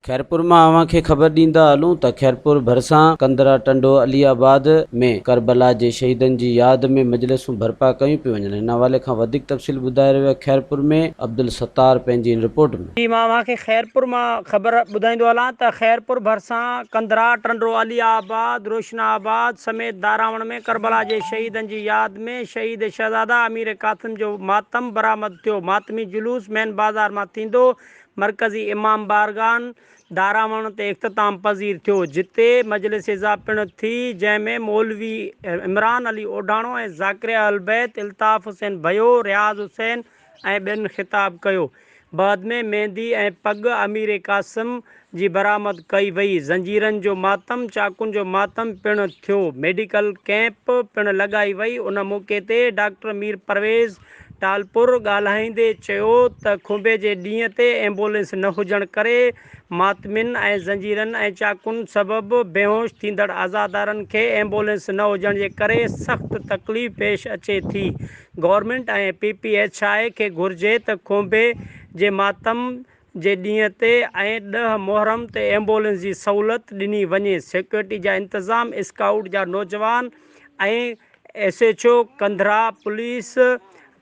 خيرپور مان اوهان کي خبر ڏيندا هلون ته خيرپور ڀرسان ڪندرا ٽنڊو علي آباد ۾ ڪربلا جي شهيدن جي ياد ۾ مجلسون برپا ڪيون پيون وڃن ان حوالي کان وڌيڪ تفصيل ٻڌائي رهيو آهي خيرپور ۾ عبدالستار پنهنجي ان رپورٽ ۾. جي مان اوهان کي خيرپور مان خبر ٻڌائيندو هلان ته خيرپور ڀرسان ڪنڌرا، ٽنڊو علي آباد، روشنا آباد سميت داراوڻ ۾ ڪربلا جي شهيدن جي ياد ۾ شهيد شهزاده امير قاسم جو ماتم برآمد ٿيو ماتمي جلوس مين بازار مان ٿيندو مرڪزي امام بارگان داراوڻ تي اختتام پذير ٿيو جتي مجلس عزا پڻ ٿي جنهن ۾ مولوي عمران علي اوڍاڻو ۽ ذاڪري اهلبيت الطاف حسين ڀيو، رياض حسين، ۽ ٻين خطاب ڪيو. بعد ۾ ميندي ۽ پڳ امير قاسم جي برآمد ڪئي وئي. زنجيرن جو ماتم، چاقون جو ماتم پڻ ٿيو. ميڊيڪل ڪئمپ پڻ لڳائي وئي. ان موقعي تي ڊاڪٽر مير پرويز ٽالپر ڳالهائيندي چيو ته کنڀي جي ڏينهن تي ايمبولينس نه هجڻ ڪري ماتمين ۽ زنجيرن ۽ چاقون سبب بيهوش ٿيندڙ عزادارن کي ايمبولينس نه هجڻ جي ڪري سخت تڪليف پيش اچي ٿي government ۽ P P H I کي گهرجي ته کونڀي جي ماتم جي ڏينهن تي ۽ ڏهه محرم تي ايمبولينس جي سهولت ڏني وڃي سيڪيورٽي جا انتظام اسڪائوٽ جا نوجوان ۽ S H O Kandhra police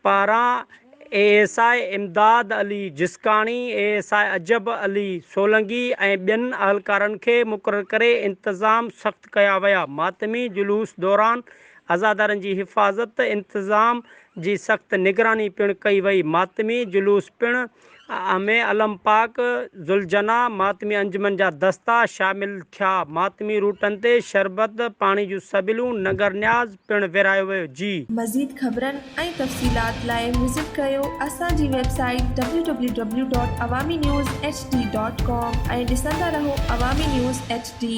پاران A S I Imdad Ali Jiskani, A S I Ajab Ali Solangi ۽ ٻين اهلڪارن کي مقرر ڪري انتظام سخت ڪيا ويا. ماتمي جلوس دوران عزادارن جي حفاظت انتظام جي سخت نگراني پڻ ڪئي وئي. ماتمي جلوس پڻ ان ۾ علم پاڪ، ذوالجناح، ماتمي انجمن جا دستا شامل ٿيا. ماتمي روٽن تي شربت، پاڻي جون سبيلون، ننگر نياز پڻ ورهايو ويو. جي. مزيد خبرن ۽ تفصيلات لاء وزٽ ڪريو اسان جي website W W W dot Awami news H D dot com ۽ ڏسندا رهو عوامي نيوز ايڇ ڊي.